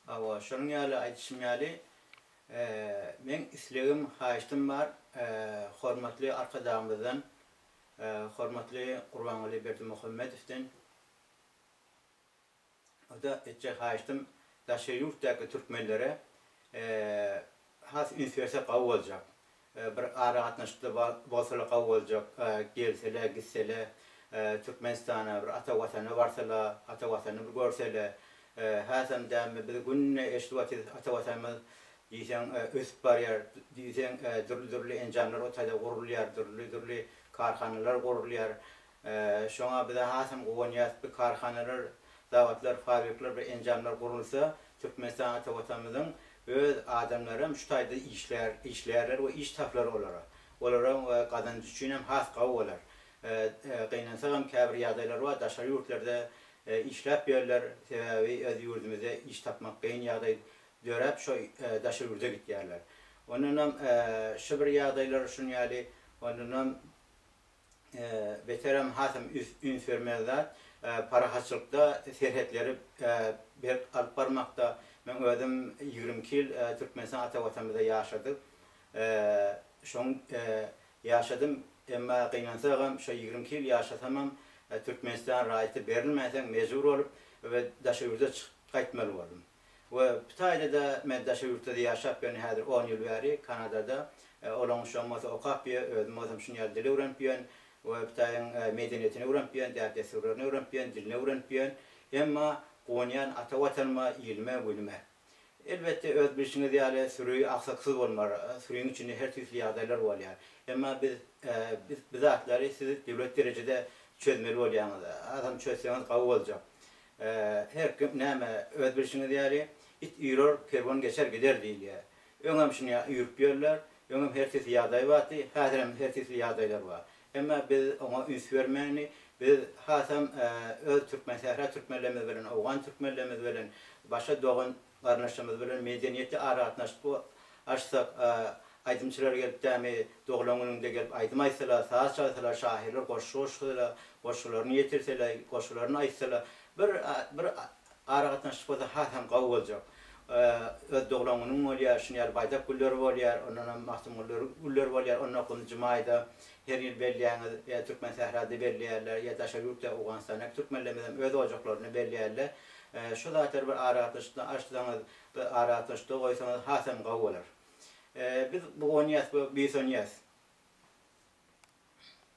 Hawa, şonuň ýaly aýdyşym ýaly, meň islegim, haýyştym bar, hormatly Arkadagymyzdan, hormatly Gurbanguly Berdimuhamedowdan, o-da etjek haýyştym, daşary ýurtdaky türkmenlere Has üns bersek gowy boljak. Bir aragatnaşykda bolsalar gowy boljak. Gelsele, gitsele Türkmenistana, bir ata Watana barsala, ata Watany bir görsele. Hasam dämi biz günde eşidip otyrys ata Watanymyz diýseň ösüp barýar, diýseň dürli-dürli enjamlar o taýda gurulýar, dürli-dürli karhanalar gurulýar. Şoňa biz-ä hasam guwanýarys. Bu karhanalar, zawodlar, fabrikler, bu enjamlar gurulsa, Türkmenistan ata Watanymyzyň öz adamlary hem şu taýda işlär, işlärler we iş tapylar olara. Olara gazanç üçin hem has gowy bolar. Gynansak hem käbir ýagdaýlar bar, daşary ýurtlarda işläp ýörler, sebäbi öz ýurdumyzda iş tapmak kyn ýagdaý döräp, şo daşary ýurda gitýärler. Ondan hem şu bir ýagdaýlar şun ýaly, ondan hem Beterem hasam üns bermeli zat. Parahatçylykda serhetleri berk alyp barmakda. Meň özüm ýigrimi iki ýyl Türkmenistan ata Watanymyzda ýaşadyk. Şoň ýaşadym. Emma gynansagam şo ýigrimi iki ýyl ýaşasamam Türkmenistan raýaty berilmänsoň mejbur bolup we daşa ýurda çykyp gaýtmaly boldum. we bu taýda-da men daşary ýurtda-da ýaşap ýörün, häzir on ýyl bäri Kanadada, olaň üçem bolsa okap ýö, özüm bolsam şuny ýaly dil öwrenip ýön we bu taýyň medeniýetini öwrenip ýön, däp-dessurlaryny öwrenip ýön, dilini öwrenip ýön, emma guwanýan ata Watanyma, ilime, günüme. Elbetde, öz bilşiňiz ýaly, süri aksaksyz bolmar, süriň içinde her tüýsli ýagdaýlar bolýar, emma biz, biz bu zatlary siz döwlet derejede çözmeli bolýaňyz, azam çözseňiz gowy boljak. Her kim näme, öz bilşiňiz ýaly, It üýrer, kerwen geçer gider diýilýär. Öňem şunya üýrüp ýörler. Öňem her tisli ýagdaý bardy, häzirem her tisli ýagdaýlar bar. Emma biz oňa üns bermeli. Biz hasam öz türkmensähra türkmenlerimiz bilen, owgan türkmenlerimiz bilen başa dogan Garyndaşlarymyz bilen medeniýetli aragatnaşyk açsak, aýdymçylar gelip dämi doglan günüňde gelip aýdym aýtsalar, saz çalsalar, şahyrlar goşgy goşsalar, goşgularyny ýetirseler, goşgularyny aýtsalar, bir bir aragatnaşyk bolsa has hem gawy boljak. Öz doglan günüň bolýar, şuny ýaly baýdak gülleri bolýar, ondan hem Magtymguly gülleri bolýar, onda nji maýda her ýyl belleýäňiz, ýa Türkmensährada belleýärler, ýa daşary ýurtda Owganystandaki türkmenlerimiz hem öz ojaklarynda belleýärler. Şu zatlary bir aragatnaşykdan açsaňyz, bir aragatnaşykda goýsaňyz hasam gowy bolar. Biz bugunýas we buýsanýas.